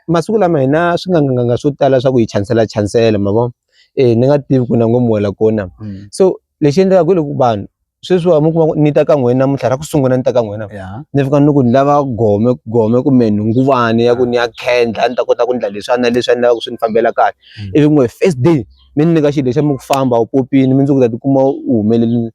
masiku lama hi na swinganganganga swo tala swa ku hi chansela chansela ma vo e ni nga tivi ku na ngo muwela kona mm. so lexi endlekaka hi loko vanhu sweswiwa mi kuma ni ta ka n'wina namuntlha ra ku sungula ni ta ka n'wina ni fika ni ku ni lava gome gome kumbe nhunguvani ya ku ni ya khendla ni ta kota ku ndla leswi a na leswi a ni lava ku swi ni fambela kahle mm. ivi n'we first day mi ni nyika xilo lexa mi ku famba u popini mi ndzi ku ta tikuma u humelele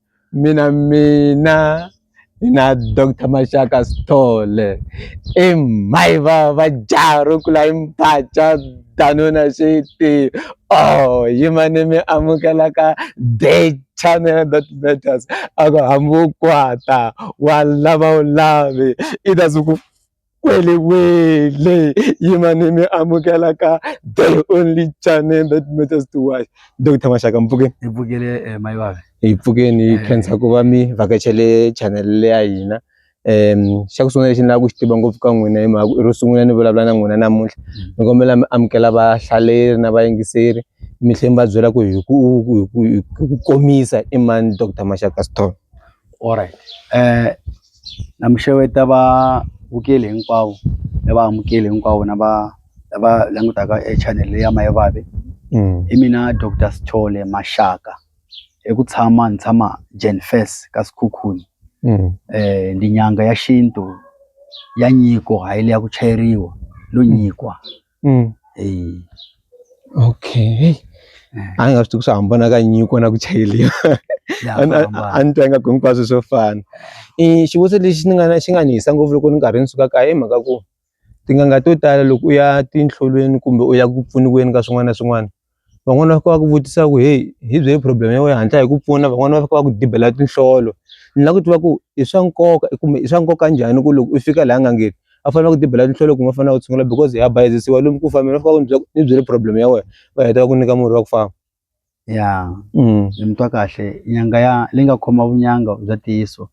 mina mina na doctor maxaka sithole i mhayi va va jaha ro kula i mpaca danuna xi ti oh yima ni mi amukelaka date channel that matters a ku hambi wo kwata wa lava wu lavi i ta se ku. Kwele wele yimani mi amukela ka the only channel that matters to watch Dr Mashaka Mpfukeni hi pfukele eh, mayi vave hi pfukeni hi eh. khensa ku va mi vhakachele channel leya hina um xa ku sungula lexi ni lava ku xi tiva ngopfu ka n'wina hi mhaka ro sungula ni vulavula na n'wina namuntlha mm. ni kombela mi amukela vahlaleri na vayingiseri mi tlhela mi va byela ku hi ku komisa i mani Dr Mashaka Stone Alright. Eh na mi xeweta va vukeli hinkwavo ni va amukeli hinkwavo na va lava langutaka e channel leyi ya Mayivavi i mina doctor Sithole Maxaka i ku tshama ni tshama Jen First ka Sekhukhune ndi nyanga ya xintu ya nyiko hayi le ya ku chayeriwa no nyikwa. Mm. Eh. Okay. A nga swi tivi ku swi hambana ka nyiko na ku chayeliwa. Ya A ni- a- hambana. a ni twa ingaku hinkwaswo swo fana. I xivutiso lexi ni nga na xi nga ni hisa ngopfu loko ni karhi ni suka kaya i mhaka ku tin'anga to tala loko u ya tinhlolweni kumbe u ya ku pfuniweni ka swin'wana na swin'wana van'wani va fika va ku vutisa ku heyi hi byeli problem ya wena hi hatla hi ku pfuna van'wani va fika va ku dibela tinhlolo ni lava ku tiva ku i swa nkoka kumbe i swa nkoka njhani ku loko u fika laha n'angeni a fanele va ku dibela tinhlolo kumbe va fanele va ku tshungula because ha bayizisiwa lomu ku fambeni va fika va ku ni byela ni byele problem ya wena va heta va ku nyika murhi wa ku famba ya ni mutwa kahle nyanga ya leyi nga khoma vunyanga bya ntiyiso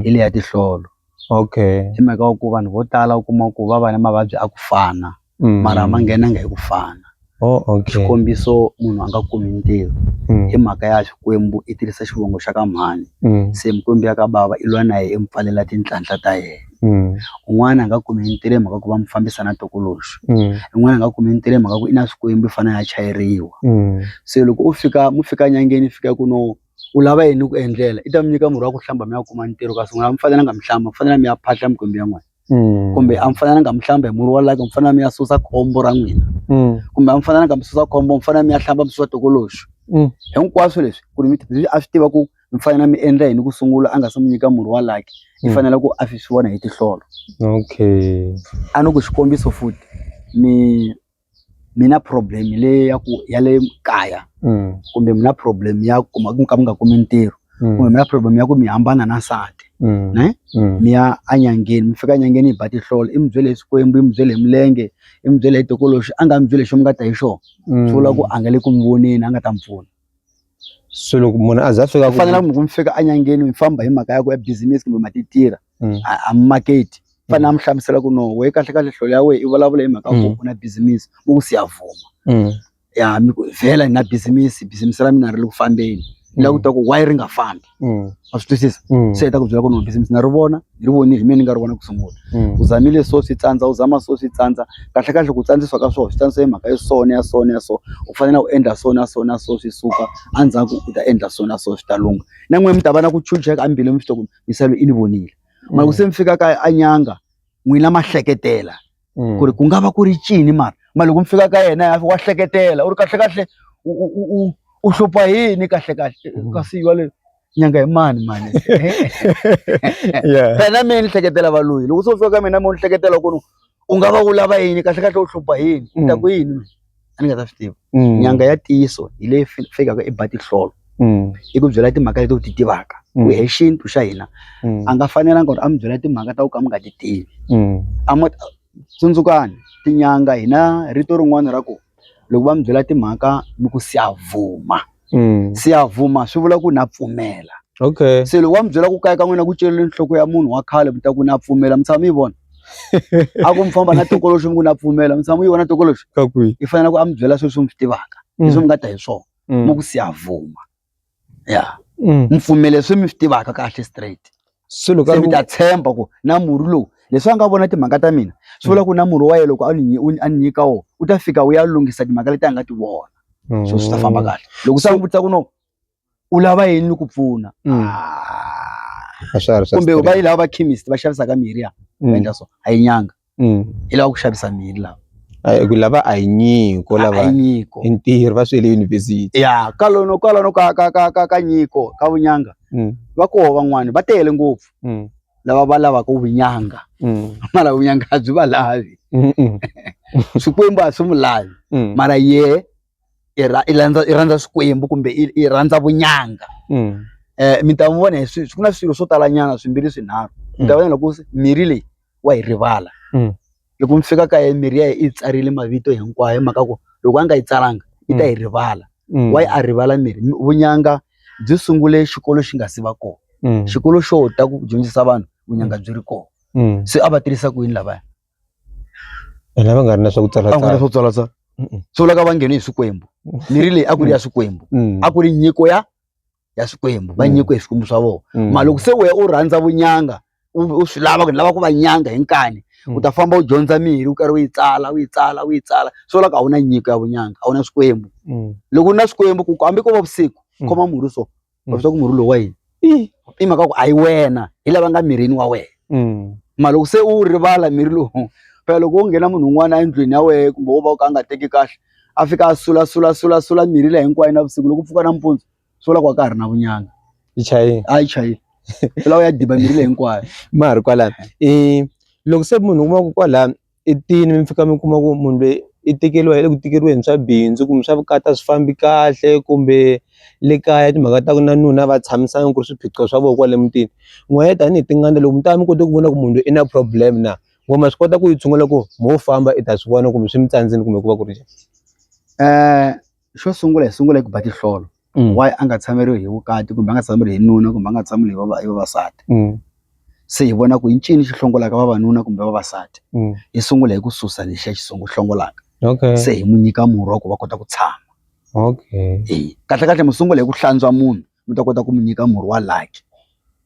hi leyi ya tihlolo okay hi mhaka wa ku vanhu vo tala u kuma ku va va ni mavabyi a ku fana. Mm. mara ma nghenanga hi ku fana oh, okay. xikombiso munhu a nga kumi ntirho mm. hi mhaka ya xikwembu i tirhisa xivongo xa ka mhani mm. se mikwembu ya ka bava i lwa na yena i mi pfalela tinhlanhla ta yena mm. un'wana a nga kumi ntirho hi mhaka ku va mi fambisa na tokoloxi mm. un'wana a nga kumi ntirho hi mhaka ku i na swikwembu i fanele ya chayeriwa mm. se loko u fika mu fika nyangeni fika ku no u lava yini ku endlela i ta mi nyika murhi wa ku hlamba mi ya kuma ntirho kasi n'wina mi fanelanga mi hlamba mi fanele mi ya phahla mikwembu ya n'wina Mm. kumbe a mi fanele nga mi hlamba hi murhi wa laka mi fanele mi ya susa khombo ra n'wina Mm. kumbe a mi fanele nga mi susa khombo mi fanele mi ya hlamba mi susa tokoloxo Mm. hinkwaswo leswi ku ri mi leswi a swi tiva ku mi fanele mi endla yini ku sungula a nga se mi nyika murhi wa laki mi Mm. fanele ku a swi swi vona hi tihlolo okay a ni ku xikombiso futhi mi mi na problem leyi ya ku ya le kaya kumbe mi na problem ya ku kuma ku ka mi nga kumi ntirho kumbe mi na problem ya ku mi hambana na nsati ne mi ya enyangeni mi fika enyangeni yi ba tihlolo i mi byele hi swikwembu yi mi byele hi milenge i mi byele hi tokoloxi a nga mi byele hi xo mi nga ta hi xona swi vula ku a nga le ku mi voneni a nga ta mi pfuna. so loko munhu a za fika ku fanela munhu mi fika enyangeni mi famba hi mhaka ya ku ya business kumbe ma ti tirha mm. a mi market fanele a mi hlamusela ku no we kahle kahle hlolo ya wehe i vulavula hi mhaka ku u na business u ku siya vuma ya mi vhela hi na business business ra mina ri le ku fambeni la ku ta ku why ri nga fambi mm. a swi twisisa mm. se ta ku byela ku no business na ri vona ni ri vonile hi mina ni nga ri vona ku sungula mm. u zamile so swi tsandza u zama so swi tsandza kahle kahle ku tsandziswa ka swona swi tsandzisa hi mhaka ya sona ya sona ya so u fanele u endla so na so na so swi suka endzhaku u ta endla so na so swi ta lunga na n'wina mi ta va na ku chucheka embile mi swi ta ku misalo i ni vonile mara ku se mi fika ka a nyanga n'wina mahleketela Mm. ku ri ku nga va ku ri cini mara ma loko mi fika ka yena ya wa hleketela u ri kahlekahle u u u u u hlupha yini kahlekahle Mm. kasi yale nyanga hi mani mani yeah phela mina ni hleketela valoyi loko se u fika ka mina mi u ni hleketela ku ri u nga va u lava yini kahlekahle u hlupha yini u ta Mm. ku yini mina a ni nga ta swi tiva nyanga ya ntiyiso hi leyi fikaka i ba tihlolo i ku byela timhaka leti u ti tivaka ku hi xintu xa hina a nga fanelanga ku ri a mi byela timhaka ta ku ka mi nga ti tivi a ma tsundzukani tinyanga hina rito rin'wana ra ku loko va mi byela timhaka mi ku siyavuma. mm. siyavuma swi vula ku na pfumela okay se loko wa mi byela ku kayeka n'wina ku celele nhloko ya munhu wa khale mi ta ku na pfumela mi tshama mi yi vona a ku mi famba na tokoloxi mi ku na pfumela mi tshama mi yi vona tokoloxi i fanele ku a mi byela sweswi mi swi tivaka mm. leswi mi nga ta hi swona mm. mo ku siyavuma ya mm. mi pfumele swi mi swi tivaka kahle straight se loko se mi ta tshemba ku na murhi lowu leswi a nga vona timhaka ta mina swi vula ku na murhi wa ye loko a ni a ni nyika wona u ta fika wu ya lunghisa timhaka leti a nga ti vona so swi ta mm. famba kahle loko se a n'wi vutisa ku no u lava yini ni ku pfuna mm. ah. kumbe va yi lava va chemist va xavisaka mirhi ya mm. endla so a yi nyanga Mm. i lava ku xavisa miri lava A hi ku lava a hi nyiko a lava hi nyiko i ntirho va swi le yunivhesiti ya kalono kwalano ka ka ka ka ka nyiko ka vunyanga Mm, va koho van'wani va tele ngopfu mm, lava va lavaka vunyanga mm, mara vunyanga a byi va lavi mm, mm, swikwembu a swi mu lavi mm, mara ye i ra- i landza i rhandza swikwembu kumbe i i rhandza vunyanga mm, um mi ta n'wi vona hi swi ku na swilo swo talanyana swimbirhi swinharhu mi ta vona loko se mirhi leyi wa yi rivala mm. loko mi fika ka ye mirhi ya yi yi tsarile mavito hinkwayo hi mhaka ku loko a nga yi tsalanga yi ta yi mm. rivala mm. wa yi a rivala mirhi vunyanga byi sungule xikolo xi nga si va kona mm. xikolo xo ta ku dyondzisa vanhu vunyanga mm. byi ri kona mm. se a va tirhisa ku yini lavaya ene va nga ri na swa ku tsala a nga ri swa ku tsala tsala swi vulaka va nghene hi swikwembu mirhi leyi a ku ri ya swikwembu a ku ri nyiko ya ya swikwembu va mm. nyikiwe hi swikwembu swa vona mm. ma loko se wehe u rhandza vunyanga u swi lava ku ni lava ku va nyanga hi nkani mm. u ta famba u dyondza mirhi u karhi u yi tsala u yi tsala u yi tsala swo la ku a wu na nyiko ya vunyanga a wu na swikwembu loko u na swikwembu ku hambi ko va vusiku khoma murhi so va vita ku murhi lowu wa yini i mhaka ku a yi wena hi lava nga mirini wa wena ma loko se u rivala mirhi lowu phela loko u nghena munhu un'wana endlwini ya wena kumbe wo va u ka a nga teki kahle a fika a sula sula sula sula mirhi leyi hinkwayo navusiku loko pfuka nampundzu swi vula ku a ka ha ri na vunyanga yi chayile a yi chayile swi lava u ya diba mirhi leyi hinkwayo ma ha ri kwalano i loko se munhu u kuma ku kwala i tini mi fika mi kuma ku munhu loyi i tekeriwa hi le ku tikeriweni swa bindzu kumbe swa vukati a swi fambi kahle kumbe le kaya timhaka ta ku na nuna a va tshamisanga ku ri swiphiqo swa vona kwale mutini n'we tanihi tin'anga loko mi ta va mi kote ku vona ku munhu loyi i na problem na. wa ma swi kota ku yi tshungula ku mo famba i ta swi vona kumbe swi mi tsandzini kumbe ku va ku ri njhani um xo sungula hi sungula hi ku ba tihlolo mm. why a nga tshameriwi hi vukati kumbe a nga tshameriwi hi nuna kumbe a nga tshameriwi hi vava- hi vavasati mm. se hi vona ku i ncini xi hlongolaka vavanuna kumbe vavasati mm. hi sungula hi ku susa lexiya xi sungu hlongolaka okay se hi mu nyika murhi wa ku va kota ku tshama okay e kahle kahle mi sungula hi ku hlantswa munhu mi ta kota ku mi nyika murhi wa laki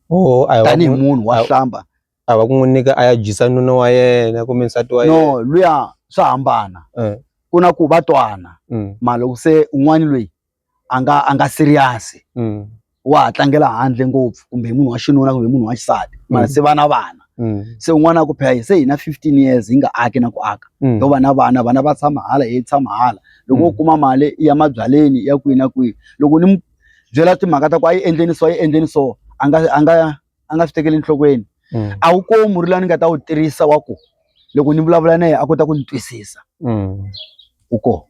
oh, tanihi munhu wa hlamba a va ku n'wi nyika a ya dyisa nuna wa yena kumbe nsati wa yena no luya swa hambana eh. ku na ku va twana mm. ma loko se un'wana loyi a nga a nga serious mm. wa ha tlangela handle ngopfu kumbe munhu wa xinuna kumbe munhu wa xisati mara mm. se vana vana mm. se un'wana a ku phela se hina 15 years hi nga aki na ku aka mm. yo vana vana vana va tshama hala hi tshama hala loko mm. u kuma mali ya mabyaleni ya kwihi na kwihi loko ni byela timhaka ta ku a yi endleni so yi endleni so a nga a nga a nga swi tekeli enhlokweni mm. a wu komi murhi lawa ni nga ta wu tirhisa wa ku loko ni vulavula na yena a kota ku ni twisisa mm. u ko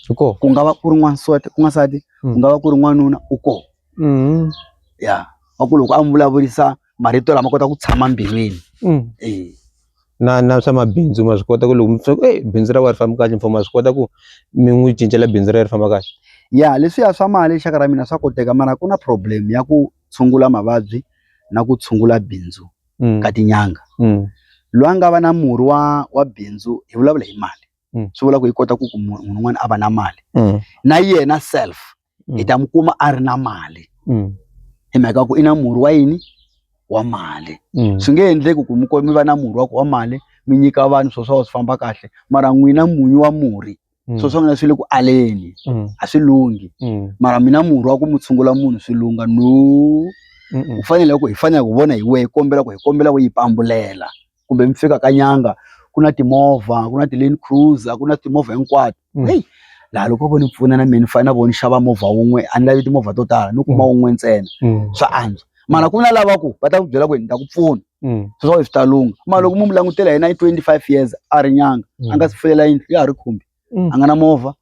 u ko ku nga va ku ri n'wansati ku n'wansati ku mm. nga va ku ri n'wanuna u ko mm-hmm. ya wa ku loko a n'wi vulavurisa marito lama kota ku tshama mbilwini mm. e na na swa mabindzu ma swi kota ku loko mitsoko e bindzu ra wa ri famba kahle mfumo ma swi kota ku mi n'wi cincela bindzu ra ri famba kahle ya leswiya swa mali xaka ra mina swa koteka mara ku na problem ya ku tshungula mavabyi na ku tshungula bindzu ka tin'anga loyi a nga va na murhi wa wa bindzu hi vulavula hi mali swi vula ku yi kota ku ku munhu un'wana a va na mali na yena self hi ta n'wi kuma a ri na mali hi mhaka ku i na murhi wa yini wa mali swi nge endleki ku mi mi va na murhi wa ku wa mali mi nyika vanhu swo swa swi famba kahle mara n'wina munyu wa murhi mm. swo swangana swi le ku aleni mm. a swi lunghi mm. mara mina murhi wa ku mu tshungula munhu swi lungha no u fanele ku hi fanele ku vona hi wehe hi kombela ku hi kombela ku yi pambulela kumbe mi fika ka nyanga ku na timovha ku na ti-lane cruiser ku na timovha hinkwato mm. heyi laha loko vo ni pfuna na mina ni fanele na vo ni xava movha wun'we a ni lavi timovha to tala ni kuma mm. wun'we ntsena mm. swa antswa mara ku na lava ku va ta ku byela ku ni ta ku pfuna mm. swi swi ta lungha ma loko mu mu langutela yena i twenty five years a ri nyanga mm. a nga si fuyela yindlu ya ha ri khumbi mm. a nga na movha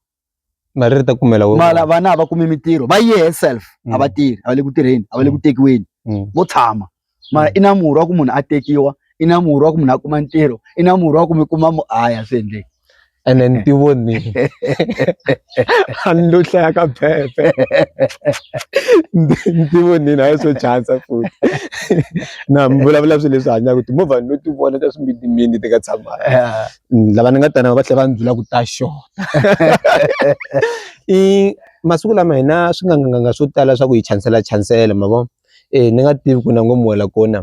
mali ri ta kumela mala vana a va kumi mintirho va ye herself a va mm. tirhi a va le ku tirheni a va le ku mm. tekiweni mm. vo tshama mara i na murhi wa ku munhu a tekiwa i na murhi wa ku munhu a kuma ntirho i na murhi wa ku mi kuma mu aya swi endleki ene ni ti vonile a ni lo hlaya ka phephe ni ti vonile a yi swo chasa futhi na mi vulavula swilo leswi hanyaka timovha ni lo ti vona ta swimitimini ti nga tshamanga lava ni nga ta na va tlhela va ni byela ku ta xota i masiku lama hina swinganganga swo tala swa ku hi chansela chansela ma vo ni nga tivi ku na ngo muhela kona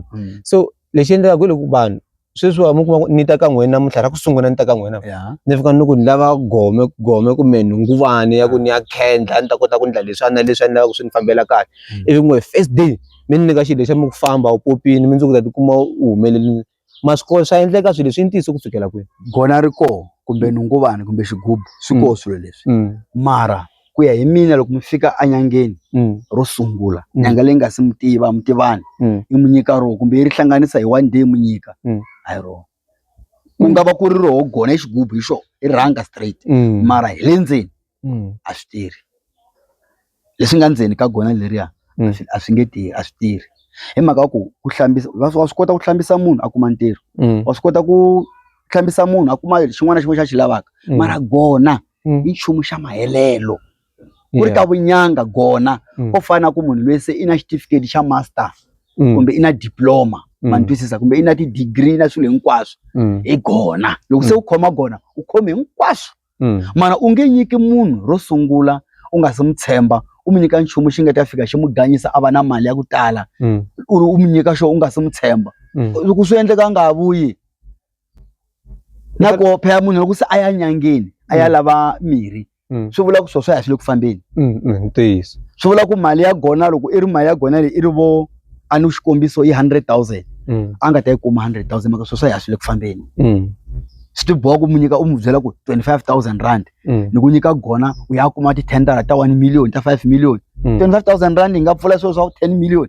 so lexi endlekaka hi loko vanhu sweswiwa mi kuma ni ta ka n'wina namuntlha ra ku sungula ni ta ka n'wina ni fika ni ku ni lava gome gome kumbe nhunguvani ya ku ni ya khendla ni ta kota ku ndla leswiwani na leswi a ni lava ku swi ni fambela kahle mm. ivi n'we first day mi ni nyika xilo lexa mi ku famba u popini mi ndzi ku ta tikuma u humelelini maswikolo swa endleka swilo leswi yi ntiyiso ku fikela kwini gona ri koho kumbe nhunguvani kumbe xigubu swi koho mm. swilo leswi mm. mara ku ya hi mina loko mi fika enyangeni mm. ro sungula mm. nyanga leyi nga si mi tiva mi tivani mm. i mi nyika roho kumbe yi ri hlanganisa hi one day mi nyika mm. a hi roho ku nga va ku ri roho gona i xigubu hi xo i rhanga straight mm. mara hi le ndzeni mm. a swi tirhi leswi nga ndzeni ka gona leriya mm. a swi nge tirhi a swi tirhi hi mhaka ku ku hlambisa wa swi kota ku hlambisa munhu a kuma ntirho mm. wa swi kota ku hlambisa munhu a kuma xin'wana na xin'wana xa xi lavaka mm. mara gona mm. mm. i nchumu xa mahelelo ku ri ka vunyanga gona mm. ko fana ku munhu loyi se i na xitifiketi xa master mm. kumbe i na diploma mm. ma ntwisisa kumbe i na ti-degree na swilo hinkwaswo mm. hi gona loko se mm. u khoma gona u khome hinkwaswo mm. mana u nge nyiki munhu ro sungula u nga se mu tshemba u mi nyika nchumu xi nga ta fika xi mu ganyisa a va na mali ya ku tala mm. u ri u mi nyika xo u nga se mu tshemba mm. loko swi endleka a nga ha vuyi na ku phela munhu loko se a ya nyangeni a ya mm. lava mirhi mm. swi vula ku swo swi ya swi le ku fambeni mm, ntiyiso swi vula ku mali ya gona loko i ri mali ya gona leyi i ri vo a ni xikombiso i hundred thousand a nga ta yi kuma hundred thousand maka swo swi ya swi le ku fambeni swi tiboha ku mu nyika u mu byela ku twenty five thousand rand mm. ni ku nyika gona u ya kuma ti-tendara ta one million ta five million mm. twenty five thousand rand yi nga pfula swilo swa ku ten million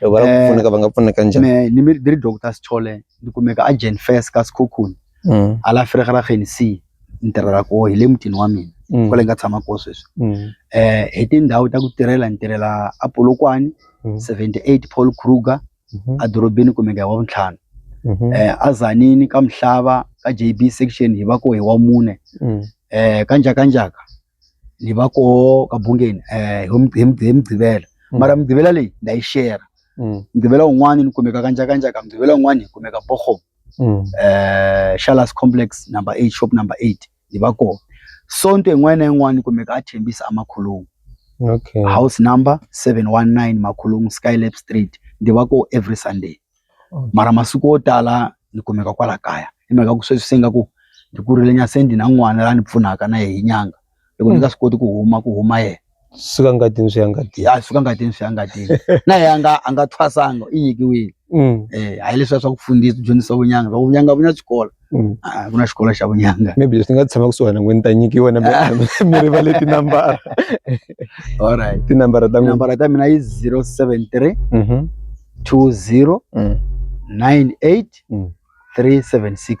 loko va lava ku Eh. pfuneka va nga pfuneka njhani me ni mi- ni ri doctor sithole ni kumeka a jen fes ka sikhukhuni Mm, a la fregerageni c ni tirhela koho hi le mutini wa mina mm, kwale ni nga tshama koho sweswi mm, eh hi tindhawu ta ku tirhela ni tirhela a polokwane Mm. 78 paul kruger mhm, a dorobeni kumeka hi wa vuntlhanu mhm, eh a zanini ka mhlava ka jb section hi va ko hi wa mune mm, eh ka njhakanjhaka ni va koho ka bungeni eh, hi Mug- hi Mug- hi mugqivela Mm. mara mugqivela leyi nda yi shera Mm. mugqivela wun'wani ni kumeka ka njhakanjhaka mugqivela wun'wani hi kumeka boho Mm. eh Shalas Complex number 8 shop number 8 ni va koho sonto yin'wana na yin'wana ni kumeka a thembisa amakhulungu Okay. house number 719 makhulungu skylab street ndi va koho every sunday mara masiku yo tala ni kumeka kwala kaya hi mhaka ku sweswi se nga ku ni kurile nyana se ni na n'wana la ni pfunaka na yehe hi nyanga loko ni nga swi koti ku huma ku huma yena suka ngatini swi ya ngatini ya suka ngatini swi ya ngatini na yehe a nga a nga thwasanga i nyikiwile um eh hayi leswiya swa ku fundisa dyondzisa vunyanga swa ku vunyanga a vu na xikolo. Mm. a ku na xikolo xa vunyanga maybe leswi ni nga tshama kusuhana n'we ni ta nyikiwa na mi rivale tinambara alright tinambara ta n'wina nambara ta mina yi 073 Mhm. 20 Mm. 98 Mm. 376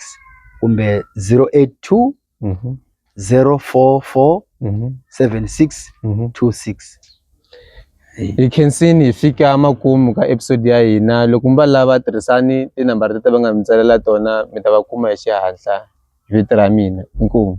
kumbe 082 Mhm. 044 Mhm. 76 Mhm. 26 hi khensini hi fika makumu ka episode ya hina loko mi va lava tirhisani tinambara tete va nga mi tsalela tona mi ta va kuma hi xihatla hi vito ra mina inkomu